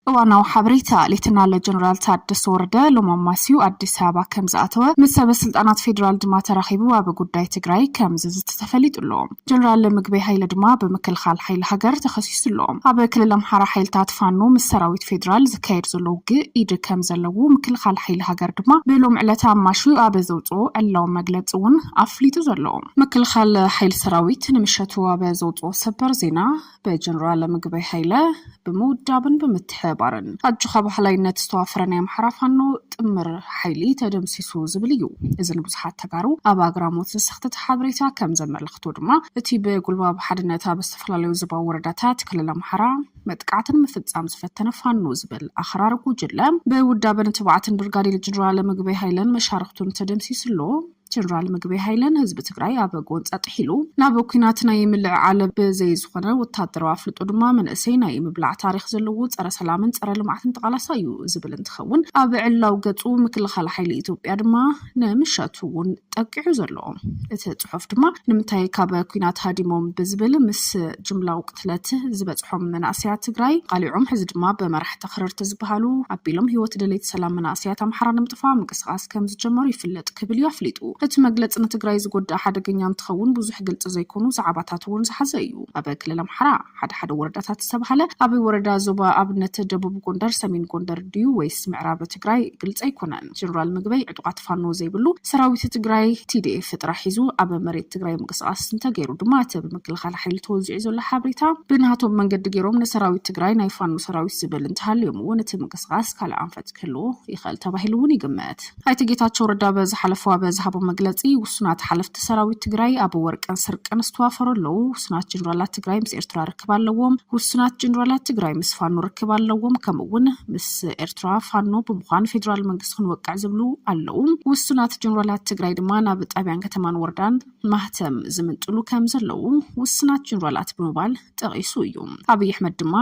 እዋናዊ ሓበሬታ፣ ሌተናለ ጀነራል ታደሰ ወረደ ሎሚ ኣማስዩ ኣዲስ ኣበባ ከምዝኣተወ ምስ ሰበ ስልጣናት ፌደራል ድማ ተራኺቡ ኣብ ጉዳይ ትግራይ ከምዝዝቲ ተፈሊጡ ኣሎ። ጀነራል ምግበይ ሃይለ ድማ ብምክልኻል ሓይሊ ሃገር ተኸሲሱ ኣሎ። ኣብ ክልል ኣምሓራ ሓይልታት ፋኖ ምስ ሰራዊት ፌደራል ዝካየድ ዘሎ ውግእ ኢድ ከምዘለዎ ምክልኻል ሓይሊ ሃገር ድማ ብሎሚ ዕለት ኣማሽዩ ኣብ ዘውፅኦ ዕላዊ መግለፂ እውን ኣፍሊጡ ዘሎ። ምክልኻል ሓይሊ ሰራዊት ንምሸቱ ኣብ ዘውፅኦ ሰበር ዜና፣ ብጀነራል ምግበይ ሃይለ ብምውዳብን ብምትሕብባርን ኣጆኻ በሃላይነት ዝተዋፈረ ናይ ኣምሓራ ፋኖ ጥምር ሓይሊ ተደምሲሱ ዝብል እዩ። እዚ ንብዙሓት ተጋሩ ኣብ ኣግራሞት ዘሰኽትት ሓበሬታ ከም ዘመላኽቶ ድማ እቲ ብጉልባብ ሓድነት ኣብ ዝተፈላለዩ ዝባዊ ወረዳታት ክልል ኣምሓራ መጥቃዕቲ ንምፍፃም ዝፈተነ ፋኖ ዝብል ኣኽራሪ ጉጅለ ብውዳበን ትብዓትን ብርጋዴር ጀነራል ምግበይ ሃይለን መሻርኽቱን ተደምሲሱ ኣሎ። ጀነራል ምግበይ ሃይለ ንህዝቢ ትግራይ ኣብ ጎን ፀጥ ኢሉ ናብ ኩናት ናይ ምልዕዓል ብዘይ ዝኾነ ወታደራዊ ኣፍልጦ ድማ መንእሰይ ናይ ምብላዕ ታሪኽ ዘለዎ ፀረ ሰላምን ፀረ ልምዓትን ተቓላሳይ እዩ ዝብል እንትኸውን ኣብ ዕላው ገፁ ምክልኻል ሓይሊ ኢትዮጵያ ድማ ንምሸቱ እውን ጠቂዑ ዘሎ እቲ ፅሑፍ ድማ ንምንታይ ካብ ኩናት ሃዲሞም ብዝብል ምስ ጅምላዊ ቅትለት ዝበፅሖም መናእሰያት ትግራይ ቓሊዖም ሕዚ ድማ ብመራሕቲ ተኸረርቲ ዝበሃሉ ኣቢሎም ህይወት ደለይቲ ሰላም መናእሰያት ኣምሓራ ንምጥፋእ ምንቅስቓስ ከምዝጀመሩ ይፍለጥ ክብል እዩ ኣፍሊጡ። እቲ መግለፂ ንትግራይ ዝጎድኣ ሓደገኛ እንትኸውን ብዙሕ ግልፂ ዘይኮኑ ሰዓባታት እውን ዝሓዘ እዩ። ኣብ ክልል ኣምሓራ ሓደ ሓደ ወረዳታት ዝተብሃለ ኣበይ ወረዳ ዞባ ኣብነት ደቡብ ጎንደር፣ ሰሜን ጎንደር ድዩ ወይስ ምዕራብ ትግራይ ግልፂ ኣይኮነን። ጀነራል ምግበይ ዕጡቓት ፋኖ ዘይብሉ ሰራዊት ትግራይ፣ TDF፣ ጥራሕ ሒዙ ኣብ መሬት ትግራይ ምንቅስቓስ እንተገይሩ ድማ እቲ ብምክልኻል ሓይሊ ተወዚዑ ዘሎ ሓብሬታ ብናቶም መንገዲ ገይሮም ንሰራዊት ትግራይ ናይ ፋኖ ሰራዊት ዝብል እንተሃልዮም እውን እቲ ምንቅስቓስ ካልእ ኣንፈት ክህልዎ ይኽእል ተባሂሉ እውን ይግመት። ኣይተ ጌታቸው ረዳ ኣብ ዝሓለፉ ኣብ ዝሃቦ መግለፂ ውሱናት ሓለፍቲ ሰራዊት ትግራይ ኣብ ወርቅን ስርቅን ዝተዋፈሩ ኣለዉ፣ ውሱናት ጀነራላት ትግራይ ምስ ኤርትራ ርክብ ኣለዎም፣ ውሱናት ጀነራላት ትግራይ ምስ ፋኖ ርክብ ኣለዎም ከምኡ እውን ምስ ኤርትራ ፋኖ ብምዃን ፌዴራል መንግስቲ ቁርሲ ክንወቅዕ ዝብሉ ኣለዉ። ውሱናት ጀነራላት ትግራይ ድማ ናብ ጣብያን ከተማን ወረዳን ማህተም ዝምንጥሉ ከም ዘለዉ ውሱናት ጀነራላት ብምባል ጠቒሱ እዩ። ኣብይ ኣሕመድ ድማ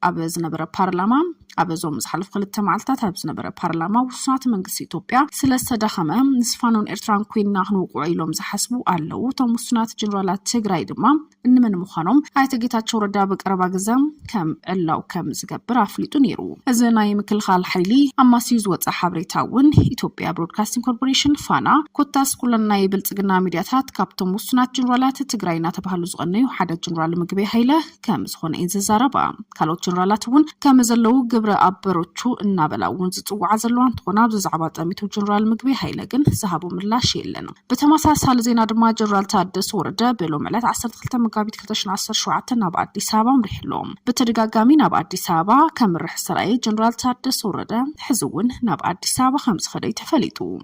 ኣብ ዝነበረ ፓርላማ ኣብ እዞም ዝሓለፉ ክልተ መዓልትታት ኣብ ዝነበረ ፓርላማ ውሱናት መንግስቲ ኢትዮጵያ ስለ ዝተዳኸመ ምስ ፋኖን ኤርትራን ኮይንና ክንውቅዖ ኢሎም ዝሓስቡ ኣለዉ። እቶም ውሱናት ጀነራላት ትግራይ ድማ እንመን ምዃኖም ኣይተ ጌታቸው ረዳ ብቀረባ ግዘ ከም ዕላው ከም ዝገብር ኣፍሊጡ ነይሩ። እዚ ናይ ምክልኻል ሓይሊ ኣማስዩ ዝወፀ ሓበሬታ እውን ኢትዮጵያ ብሮድካስቲንግ ኮርፖሬሽን፣ ፋና፣ ኮታስ ኩለን ናይ ብልፅግና ሚዲያታት ካብቶም ውሱናት ጀኔራላት ትግራይ እናተባህሉ ዝቐነዩ ሓደ ጀኔራል ምግበይ ሃይለ ከም ዝኾነ እየን ዝዛረባ። ካልኦት ጀኔራላት እውን ከም ዘለዉ ግብረ ኣበሮቹ እናበላ እውን ዝፅውዓ ዘለዋ እንትኾና ኣብዚ ዛዕባ ጠሚቱ ጀኔራል ምግበይ ሃይለ ግን ዝሃቦ ምላሽ የለን። ብተመሳሳሊ ዜና ድማ ጀነራል ታደሰ ወረደ ብሎም ዕለት 12 መጋቢት 2017 ናብ ኣዲስ ኣበባ ኣምሪሑ ኣሎ። ብተደጋጋሚ ናብ ኣዲስ ኣበባ ከምርሕ ዝተራእየ ጀነራል ታደሰ ወረደ ሕዚ እውን ናብ ኣዲስ ኣበባ ከምዝኸደ እዩ ተፈሊጡ።